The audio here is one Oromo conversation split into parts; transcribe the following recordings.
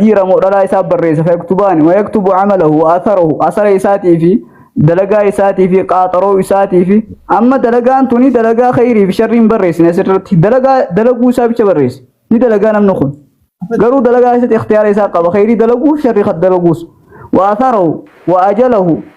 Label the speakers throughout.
Speaker 1: dhiira moo dhalaa isaa barreessa fayaktubaani wayaktubu camalahu wa atharahu asara isaatii fi dalagaa isaatii fi qaaxaroo isaatii fi amma dalagaan tuni dalagaa khayrii fi sharrii hin barreessine asirratti dalagaa dalaguu isaa bicha barreesse ni dalagaa namni kun garuu dalagaa keessatti ikhtiyaara isaa qaba khayrii dalaguu fi sharrii dalaguus wa atharahu wa ajalahu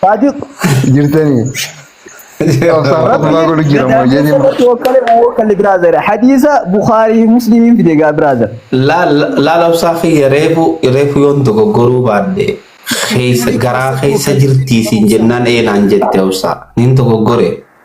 Speaker 1: Taajib jirtanii. Hadiisa Bukaarii Musliimiin fide gaa biraazer. Laala
Speaker 2: obsaa kiyya reefu reefu yoon dogoggoruu baadhe keessa garaa keessa jirtii siin jennaan eenaan jette obsaa niin dogoggore.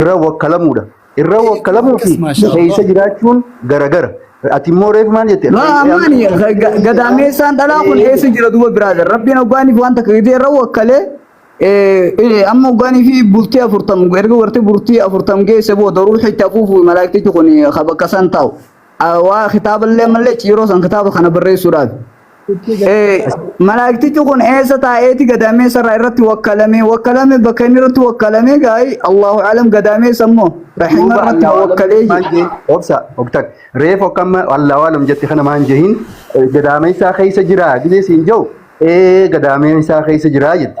Speaker 3: irra wakkalamuudha. Irra wakkalamuu fi keessa jiraachuun garagara. Ati immoo reefu maal jette? Ammaani
Speaker 1: gadaameessaan dhalaa kun eessa jira duuba biraa jira. Rabbiin oggaaniif waan takka gidee irra wakkalee amma oggaanii fi bultii afurtam erga warti bultii afurtam geesse booda ruuxa itti afuufu malaaktichi kun bakka san taa'u. Waa kitaaba illee malee ciiroo san kitaaba kana barreessuudhaaf. Eh, Malaaktichi kun eessa taa'eeti gadaameessa irraa irratti wakkalame wakkalame bakka inni irratti wakkalame gaa'e Allahu alam gadaameessa immoo rahima duuba irratti allaa waalam wakkalee jetti maan jira. jeen obsa oktak
Speaker 3: reef okkamma allaa waalam jetti kana maan jehin gadaameessaa keessa jira gidee siin jau ee gadaameessaa keessa jira jetti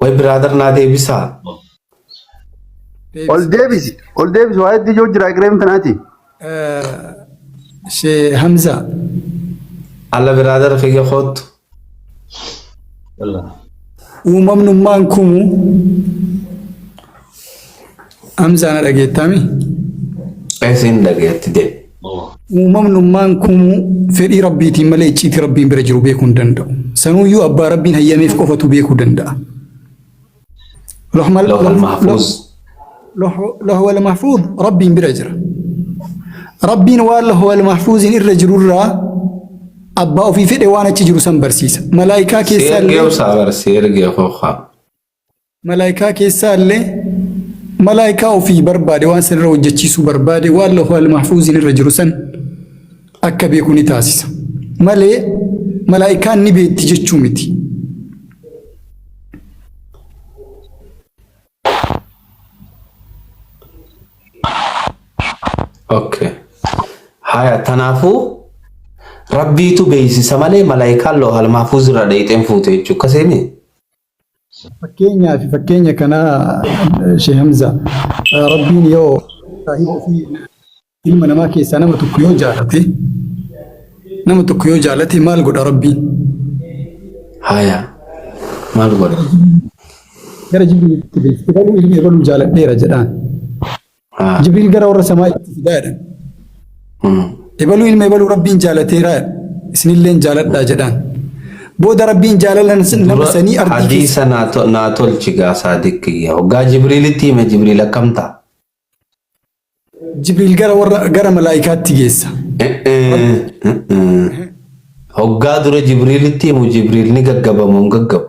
Speaker 2: Way brother naa deebisaa.
Speaker 3: Ol Deebisa. deebisi. Ol deebisi. Waa hedduu yoo jira egereen tanaati. Eh,
Speaker 4: Shee Hamzaa.
Speaker 2: Alla brother kiyya koottu. Uumamnummaan
Speaker 4: kumu Amsa na dhageettaami.
Speaker 2: Isin dhageetti deebi. Uumamnummaan
Speaker 4: kumuu fedhii rabbiitiin malee icciitii rabbiin bira jiru beekuu hin danda'u. Sanuuyyuu abbaa rabbiin hayyameef qofatu beekuu danda'a. Lohmal-
Speaker 2: Lawhal loh- mahfuuz.
Speaker 4: loh- Lohwal mahfuuz rabbiin bira jira. Rabbiin waan lohwal mahfuuziin irra jirurraa abbaa ofii fedhe waan achi jiru san barsiisa. Malaayikaa keessaa Seergee illee obsaa bara seergee kookaa. Malaaykaa keessaallee malaaykaa ofii barbaade waan san irra hojjechiisuu barbaade waan lawhul mahfuuziin irra jiru san akka beeku ni taasisa. Malee malaaykaan ni beekti jechuu miti.
Speaker 2: Okay. Haya tanaafuu rabbiitu beeksisa malee malaayikaan loohal maafuuz irraa dheeyxeen fuute jechuudha. Akkasii miti. Fakkeenyaa fi
Speaker 4: fakkeenya kanaa Shee Hamzaa Rabbiin yoo saahiba ofii ilma namaa keessaa nama tokko yoo jaalate nama tokko yoo jaalate maal godha Rabbiin?
Speaker 2: Haya. Maal godha?
Speaker 4: Gara jibriilitti bilbila ilmi ebaluu jaaladheera jedhaan. Jibriil gara warra samaa itti fidaa jedhan. Ebaluu ilma ebaluu rabbiin jaalateeraa isinilleen jaaladhaa jedhaan. Booda rabbiin jaalala nama sanii ardii keessa. Hadiisa naa
Speaker 2: tolchi gaa saadiq kiyya. Hoggaa Jibriilitti hime Jibriil akkam ta'a?
Speaker 4: Jibriil gara warra gara malaa'ikaatti geessa.
Speaker 2: Hoggaa dura Jibriilitti himu Jibriil ni gaggabama hin gaggabu.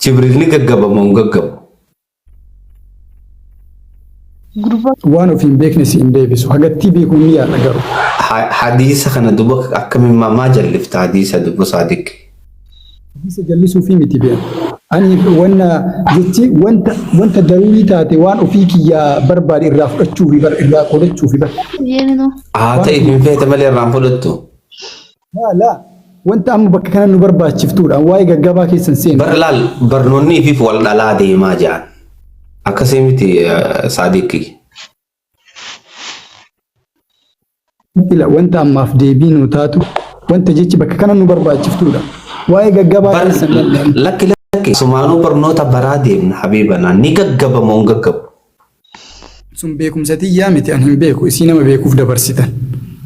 Speaker 2: Jibril ni gaggaba moo hin gaggabu?
Speaker 4: Gurbaa. Waan ofii hin beekne si hin deebisu. Hagattii beeku hin yaadha garuu. Ha- Hadiisa
Speaker 2: kana duba akkamiin maa maa jallifta hadiisa duba saadiq? Hadiisa
Speaker 4: jallisuu fi miti beeku. Ani wanna jechi wanta wanta daruurii taate waan ofii kiyyaa barbaade irraa fudhachuu fi bar irraa qolachuuf bar. Yeeminoo. Haa
Speaker 2: ta'e hin feete malee irraan fudhattu. Laa laa
Speaker 4: wanta amma bakka kana nu barbaachiftuudhaan waa'ee gaggabaa keessan seenu. Bar laal barnoonni
Speaker 2: ifif wal dhalaa deemaa jaan. Akkasii miti saadiqi.
Speaker 4: Ila wanta ammaaf deebii nu taatu wanta jechi bakka kana nu barbaachiftuudha. Waa'ee gaggabaa Bar keessan dhandhaan. lakki lakki
Speaker 2: sumaanuu barnoota baraa deemna habiibanaa ni gaggabama hin gaggabu.
Speaker 4: Sun beekumsa tiyyaa miti an hin beeku isii nama beekuuf dabarsitan.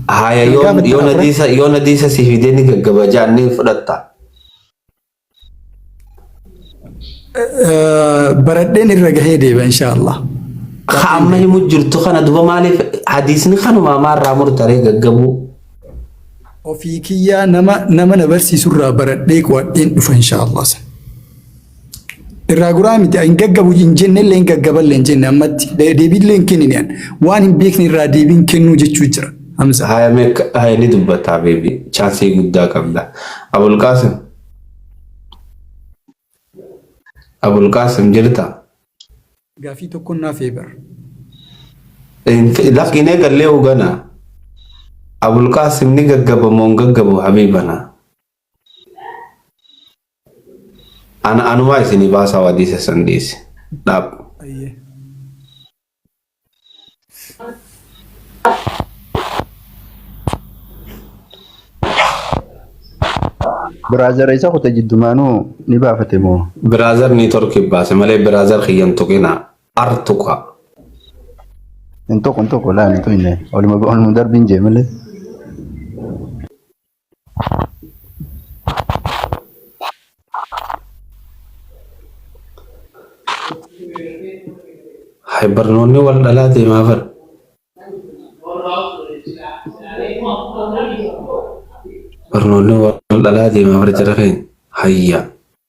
Speaker 4: Haaya Kan yoo
Speaker 2: gaafattan yoo afran- nadiisa yoo nadiisa si fidee ni gaggaba jaan ni fudhatta. Eh,
Speaker 4: Baradheen irra gahee deeba inshaallah. Ka amma
Speaker 2: himu jirtu kana duba maaliif hadiisni kanuma maarraa murtaree gaggabuu.
Speaker 4: Ofii kiyyaa nama nama na barsiisurraa baradhee qo'adheen dhufa inshaallah. Irraa guraa miti hin gaggabu hin jenne illee hin gaggaba illee hin jenne ammatti deebii illee hin kennine waan hin beekne irraa deebiin kennuu jechuu jira. Hamza. Haya meek haya ni
Speaker 2: dubbataa beebi chaansii guddaa qabda. Abulqaasim. Abulqaasim jirta. Gaafii
Speaker 4: tokko naaf eebar.
Speaker 2: Lakkinee gallee hogana. Abulqaasim ni gaggaba moo hin gaggabu habiibana. Ana anumaa isinii baasaa wadii sessan dhiisi. Dhaab. Ayyee.
Speaker 3: Biraazara isa kute jiddumaanuu ni baafate moo? Biraazar nii torki
Speaker 2: baase malee biraazar kiyyan tuqinaa. Ar tuqa.
Speaker 3: Hin tokko hin tokko laani tuyne. Oluma oluma darbiin jee malee.
Speaker 2: Hay barnoonni wal dhalaa ta'e maa fadha? Barnoonni wal dhalaa ta'e maa fadha jara keenya? Hayyaa.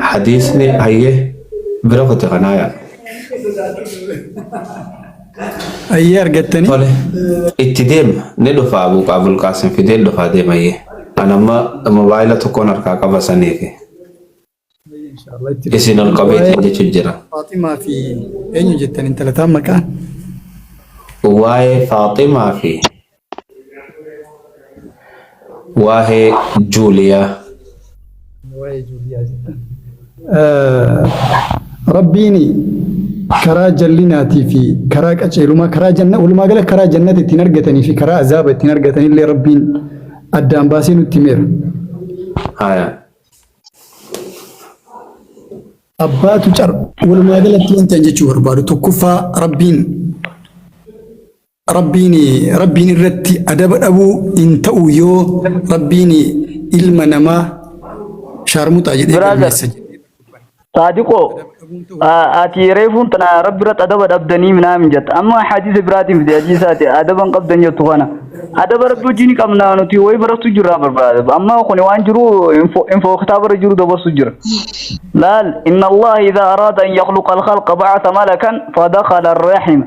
Speaker 2: Hadiisni hayyee bira kote kanaa yaa.
Speaker 4: Ayyee argattanii. Tole itti
Speaker 2: deema ni dhufa Abuu Qaabul Qaasim fidee dhufaa deema hayyee. An amma mobaayila tokkoon harkaa qaba saniifi. Inshaallah
Speaker 4: itti Isin ol qabeetiin
Speaker 2: jechuun jira. Faaximaa fi
Speaker 4: eenyu jettan intalataan maqaan?
Speaker 2: Waa'ee Faaximaa fi Waahee Juuliyaa. waa'ee Juuliyaa
Speaker 4: jettan. Rabbiin karaa jallinaatii fi karaa qaceelumaa karaa janna walumaa gala karaa jannata ittiin argatanii fi karaa azaaba ittiin argatan illee Rabbiin addaan baasee nutti himeera.
Speaker 2: Haya.
Speaker 4: Abbaatu car walumaa galatti wanta hin jechuu barbaadu tokkoffaa Rabbiin Rabbiin Rabbiin irratti adaba dhabuu hin ta'u yoo Rabbiin ilma namaa shaarmuxaa jedhee Brother, galmeessa jedhee dubban. Saadiqoo,
Speaker 1: Adaba dhabuun ta'u a- ati reefuun tana rabbi irratti adaba dhabdanii minaamin jetta. Amma hadiisa biraatiin fide hadiisa ati adaba hin qabdan jettu kana. Adaba rabbi wajjin ni qabna nuti wayi barachuu jirraa barbaada. Amma kuni waan jiru info info kitaaba irra jiru dabarsu jira. Laal inna Allah idha arada an yakhluqa al-khalqa ba'atha malakan fadakhala ar-rahima.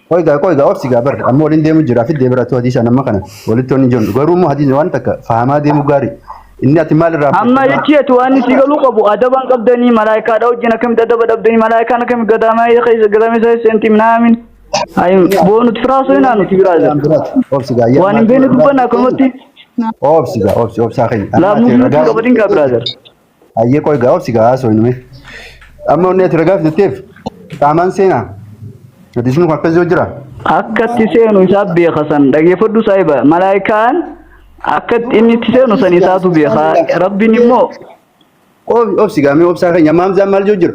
Speaker 1: Qoy gaa qoy gaa obsi
Speaker 3: gaa bar amma waliin deemu jira fi deebira tu hadiisa nama kana walitti waliin jirru garuu immoo hadiisni waan takka fahamaa deemu gaari inni ati maal irraa Amma jechi ati waan
Speaker 1: isii galuu qabu adabaan qabdanii malaayikaadha wajjin akkamitti adaba dhabdanii malaayikaan akkamitti gadaamaa keessa gadaamaa isaa seenti minaamin. Ayi boonut firaasoo hin aanuti biraaza. obsi gaa
Speaker 3: Waan hin beekne dubbanna
Speaker 1: akkanumatti obsi gaa
Speaker 3: obsi obsaa keenya laabnuu fi nuti qabadin
Speaker 1: gaa biraaza. Hayyee qoy
Speaker 3: gaa obsi gaa haasoo inni. Amma onni ati ragaaf jetteef qaamaan seenaa. Hadiisni kun akkas yoo jira. Akka itti seenu
Speaker 1: isaa beeka san dhageeffadhu saahiba. Malaayikaan akka itti inni itti seenu san isaatu beeka. Rabbiin immoo Ob-
Speaker 3: Obsi gaa mee obsaa keenya amma hamzaan maal yoo jira.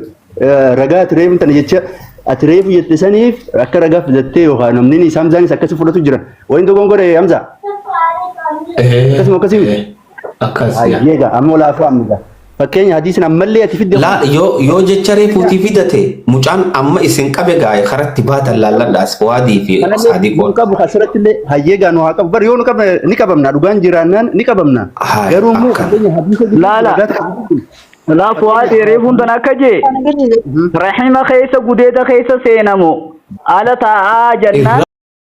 Speaker 3: Ragaa ati reefu tana jecha ati reefu jette saniif akka ragaa filattee yookaan namni isaa hamzaanis akkasi fudhatu jira. Waliin dogongore hamzaa. Akkasuma akkasii miti. Akkas
Speaker 2: yaa. Hayyee egaa amma olaafuu
Speaker 3: amma egaa. Fakkeenya hadiisin ammallee ati fidde Laa kun. yoo yoo jecha
Speaker 2: reefuutii fidate mucaan amma isin qabe gaa'e karatti baatan laalladhaas waadii fi Kanallee nu saadiqoon. qabu asirratti illee
Speaker 3: hayyee egaa nu haa qabu. Bar yoo nu qabne ni qabamna dhugaan jiraannaan ni qabamna. Haay Garuu immoo akka. fakkeenya hadiisa jiru Laala. dhugaa ta'e.
Speaker 1: Laa fu'aad reefuun tan akka jee. Rahima keessa gudeeda keessa seenamu. Ala taa'aa jannaan.